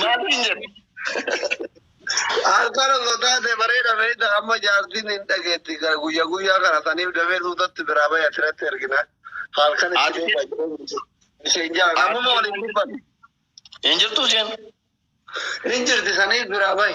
Maaliin jedhu. Harkaan osoo taate bareeda beekta amma jaartiin hin dhageetti guyya guyyaa kana saniif damee suutatti biraa bahe asirratti ergina. Halkan itti deema isheen jaa namuma waliin dubbatu. Hin jirtu isheen. Hin jirti saniif biraa bahe.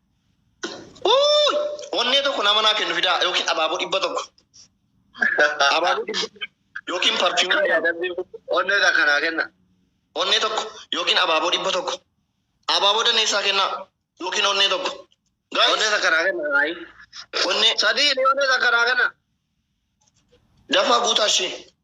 Uuy! Onnee tokko nama naa kennu fidaa yookiin abaaboo dhibba tokko. Abaaboo dhibba yookiin parfiyuumii Kan lama. yaadamni onnee isaa kanaa kenna. Onnee tokko yookiin abaaboo dhibba tokko. Abaaboo dandeessaa kennaa yookiin onnee tokko. Onnee Guys, isaa kanaa kenna. Ayi. onnee Sadii ni onnee isaa kanaa kenna. dafaa guutaa ishee.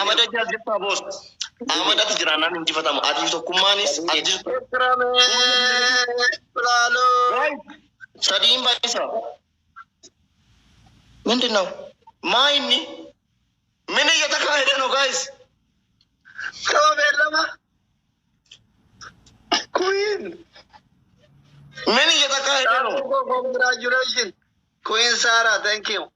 Ahmad Ajjaa jirtaa boos. Ahmad ati jiraannaan injifatamu. Atiif tokkummaanis ati jirtu. Sadiin baay'isa. Mindi nau. Maa inni? Mini jata kaa hidhan o gaayis. Yoo beellama. Kuyiin. Mini jata kaa hidhan o. Congratulations. Queen Sarah, thank you.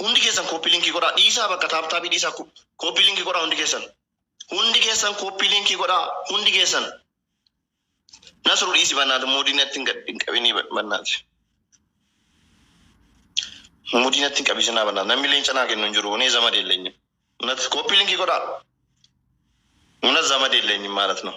Hundi keessan copy link godhaa dhiisaa bakka taap taabii dhiisaa copy link godhaa hundi keessan. Hundi keessan copy link godhaa hundi keessan. Nasru dhiisi bannaati muudii natti hin gad- hin qabinii ba- bannaati. Muudii natti hin qabisinaa bannaati. Namni leenca naa kennu hin jiru kunee zama deellenyi. Natti copy link godhaa. Muna zama deellenyi maalat noo.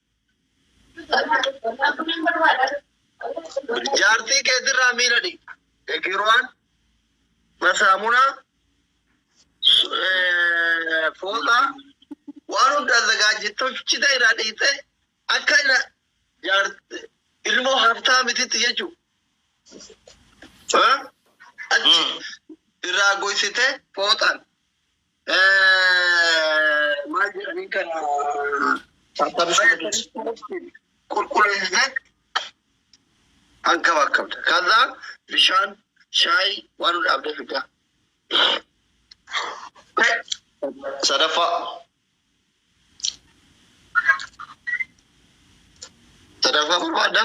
Jaartii keetirraa miila dhiqi. Egiruwaan, masaamunaa, su- eh, fooxaa waan hunda zagaajjittochita irraa dhiite akka ina jaarti ilmoo haftaa mititti jechuudha. Achi irraa goysite fooxaan Maal jedhanii kana qulqulleessitee kan qaba qabda. Kaza bishaan shaayii waan hunda abdee fiddaa. Sadaffaa. Sadaffaa barbaadda.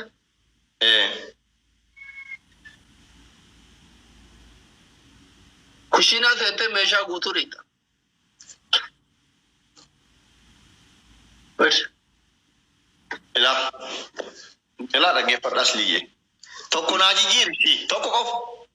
Kushiinaa seentee meeshaa guutuu dhiqxa. Bari. Ilaa. Ilaa dhaggeeffadha asliyyee. Tokko naa jijjiiri. Tokko qofa.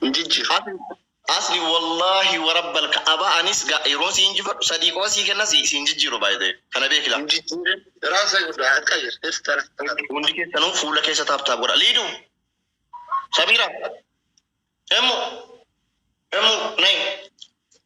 Hin jijjiir. Asli wallahi wa rabbal ka'aba anis ga yeroo si injifadhu sadii qofa sii kenna si siin jijjiiru by the way. Kana beeki laa. Hin jijjiirin. Raasa guddaa akka jir. Irtana. Hundi keessanuu fuula keessa taap taap godha. Liidu. Samiira. Emmu. Emmu nay.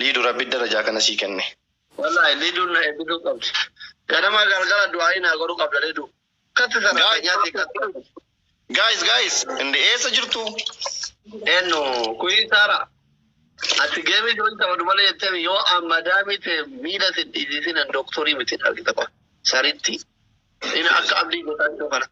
Liidu rabbi darajaa kana sii kenne. Walahi lidun na ebisu qabdi ganama galgala duaii na godhu qabda lidu katti sarakanya si katti. Guys guys inde eessa jirtuu. Eennu kuii saara ati geemii join taphadhu malee jetteemi yoo an madaamii tee miila sin dhiisiisin an doktorii miti argita qoy sarittii ina akka abdii gotaa jiruu kana.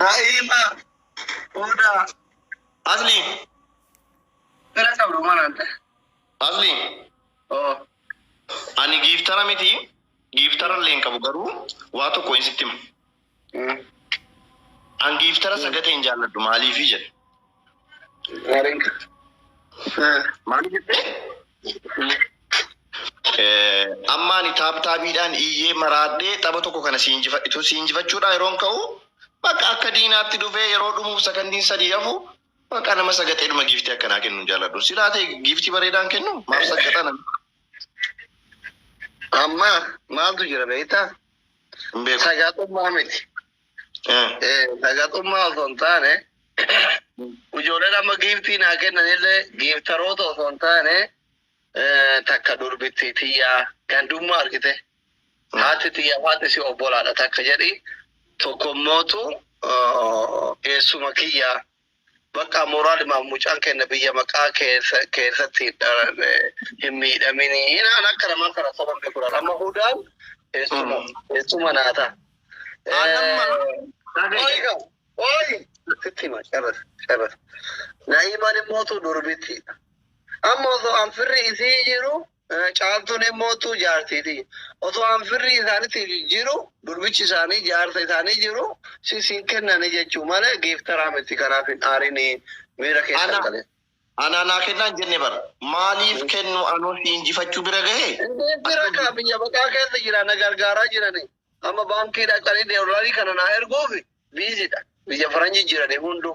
Daa'ima booda asli bira qabdu manaan ta'e. Asli Oo. ani giiftara miti giiftara illee hin qabu garuu waa tokko hin sitti hima. An giiftara sagatee hin jaalladhu maaliifi jedhe. Maaliif jettee? Eh, Amma ani taaptaabiidhaan iyyee maraadhee tapha tokko kana si injifadhitu si injifachuudhaa yeroon ka'u bakka akka diinaatti dhufee yeroo dhumuuf sakandiin sadii hafu bakka nama sagaxeedhuma giiftii akkanaa kennu hin jaalladhu. Silaa ta'e giiftii bareedaan kennu maaf sagaxana? Amma maaltu jira beektaa? Hin beeku. Sagaxummaa miti. Eh, Eh, Sagaxummaa osoo hin taane ijoolleen amma giiftii naa kennanillee giiftaroota osoo hin taane eh, takka durbitti tiyyaa gandummaa argite. Haati tiyyaa haati si obbolaadha takka jedhi. Tokkommootu eh, eessuma kiyyaa Bakkaa moraalimaaf mucaan keenna biyya maqaa keesatti hin miidhaminii naan akka namaa kana soba hin beeku amma hudaan eessuma eessuma naa ta. Ooyiga ooyi sitti hima carras carras naa'imaan immoo tu durbittiidha amma osoo an firri isii jiru Caaltuun emmootu jaartiiti. Otoo an firrii isaanitti jijjiiru durbichi isaanii jaarsa isaanii jiru si siin kennani jechuu malee geeftaraa miti kanaaf hin aarini miira keessan Ana galee. anaa naa kennaan jenne bar maaliif kennu anoo si injifachuu bira gahe Indee bira akkam kaa biyya baqaa keessa jira na gargaaraa jirani. Amma baankii dhaqanii deellarii kana naa erguufi biizidha. Biyya faranjii jirani hunduu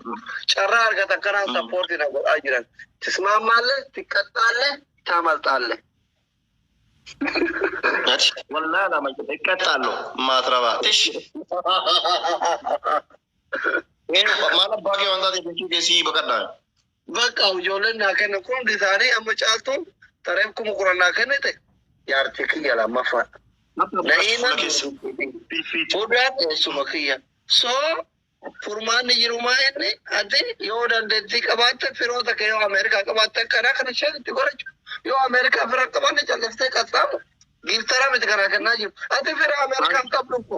carraa argatan kanaan Mm. sappoortii na godhaa jiran. Tismaammaallee, xiqqaxxaallee, taamalxaallee. Ati wallaa lama jedhe qaxxaallo maatirabaa tish. Maal abbaa kee wantaa ta'e jechuu keessii baqadhaa. Bakka ijoolleen naa kennan kun hundi isaanii amma caaltuun tareef kuma kudhan naa kennite jaartii kiyya lammaffaa. Na'iima hudaan eessuma kiyya. So furmaanni jirumaa inni ati yoo dandeettii qabaatte firoota kee yoo Ameerikaa qabaatte karaa kana isheen itti godhachu. Yoo Ameerikaa fira qabaanne calliftee qaxxaamu giiftara miti kanaa kennaa jiru. Ati fira Ameerikaa hin qabdu ko.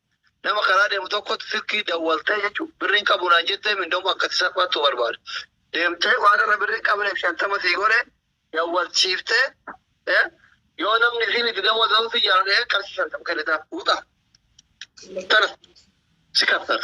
Nama karaa deemu tokkotti silkii dawwaltee jechuun birrii hin qabu naan jettee mindoomu akkatti salphaattu barbaada. Deemtee waan irra birrii hin qabneef shantama sii godhe dawwalchiiftee eh, yoo namni isiin itti dawwaltan si jaalate qarshii shantama kennitaa fuudha. Tana si kaffala.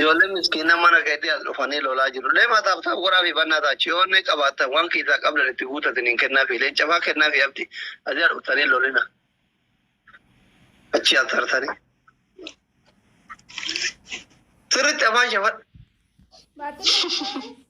Ijoollee miskiina mana keetii as dhufanii lolaa jiru. Leema taaptaa goraa fi bannaa taachi yoo onnee qabaattan waan keessaa qabdan itti guutatin hin kennaa fi leenca faa kennaa fi abdi asii dhuftanii lolina. Achii asartanii. Sirritti afaan shafadha.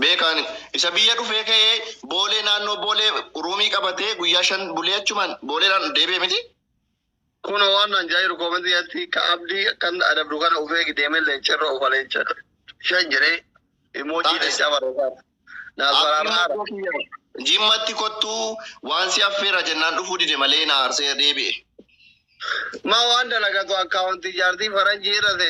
Beekaan isa biyya dhufee ka'ee boolee naannoo boolee ruumii qabatee guyyaa shan bulee achumaan booleedhaan deebi'e miti. Kuno waan naan jairu comment keessatti ka abdi kan adabdu kana uf eegi deeme leenca irra ofa leenca shan jedhe emoji Taates. leenca barreessaa naaf Abdii baraaraa maddoo kiyya jimmatti kottuu waan si affeera jennaan dhufuu dide malee na aarsee deebi'e. ma waan dalagatu akkaawuntii jaartii faranjii irra seeta